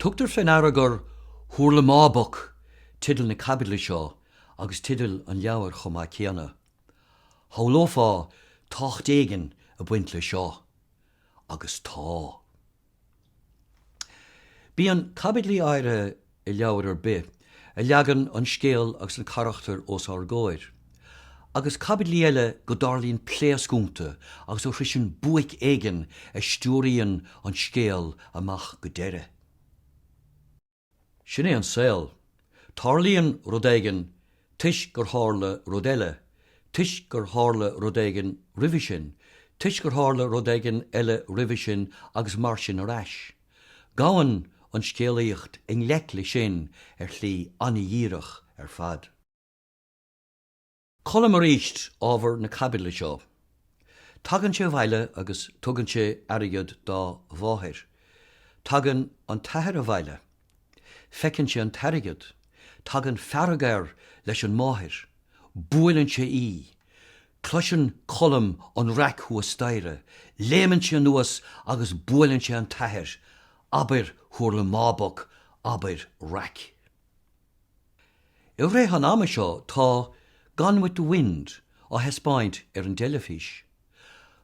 Tugtar fé ndeara gur Hurlamáboc teideal na caibidle seo agus teideal an leabhair chomh maith céanna. Shamhlófá tábhacht éigin a baint leis seo, agus tá. Bíonn caibidlí áirithe i leabhar ar bith a leagann an scéal agus na carachtair os ár gcomhair, agus caibidlí eile go dtarlaíonn pléasc iontu agus go sroiseann buaic éigin a stiúraíonn an scéal amach go deireadh. Sin é an saol. Tarlaíonn rud éigin toisc gur tharla rud eile, toisc gur tharla rud éigin roimhe sin, toisc gur tharla rud éigin eile roimhe sin agus mar sin ar ais. Gabhann an scéalaíocht i ngleic le sin ar shlí an-dhíreach ar fad. Colm arís ábhar na caibidle seo. Tagann sé abhaile agus tugann sé airgead dá mháthair. Tagann an t-athair abhaile. Feiceann sé an t-airgead. Tagann fearg air leis an máthair. Buaileann sé í. Cloiseann Colm an raic thuas staighre. Léimeann sé anuas agus buaileann sé an t-athair. Abair hurlamáboc, abair raic. I rith an ama seo tá Gone with the Wind á thaispeáint ar an dteilifís.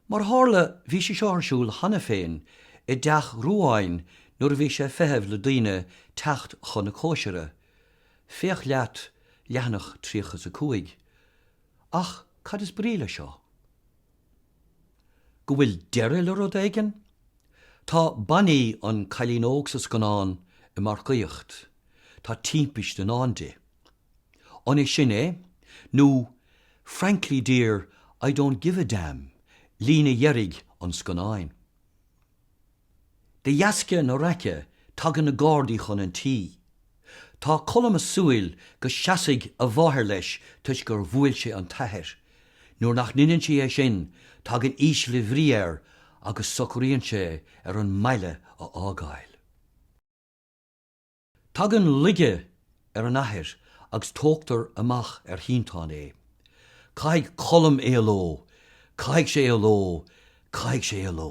Mar a tharla bhí sí seo ar siúl cheana féin i dteach Ruáin nuair a bhí sé ag feitheamh le daoine teacht chun na cóisire, féach leat leathanach 35. Ach cad is brí le seo? go bhfuil deireadh le rud éigin? Tá Bonnie, an cailín óg sa scannán, ag marcaíocht. Tá timpist i ndán di. An é sin é, nó Frankly dear, I don't give a damn, líne dheiridh an scannáin. De dheasca na raice tagann na Gardaí chun an tí. Tá Colm a súil go seasfaidh a mháthair leis toisc gur bhuail sé an t-athair. Nuair nach ndeineann sí é sin tagann ísle bhrí air agus socraíonn sé ar an mbaile a fhágáil. Tagann laige ar an athair agus tógtar amach ar shínteán é. Caithfidh Colm éaló, caithfidh sé éaló, caithfidh sé éaló.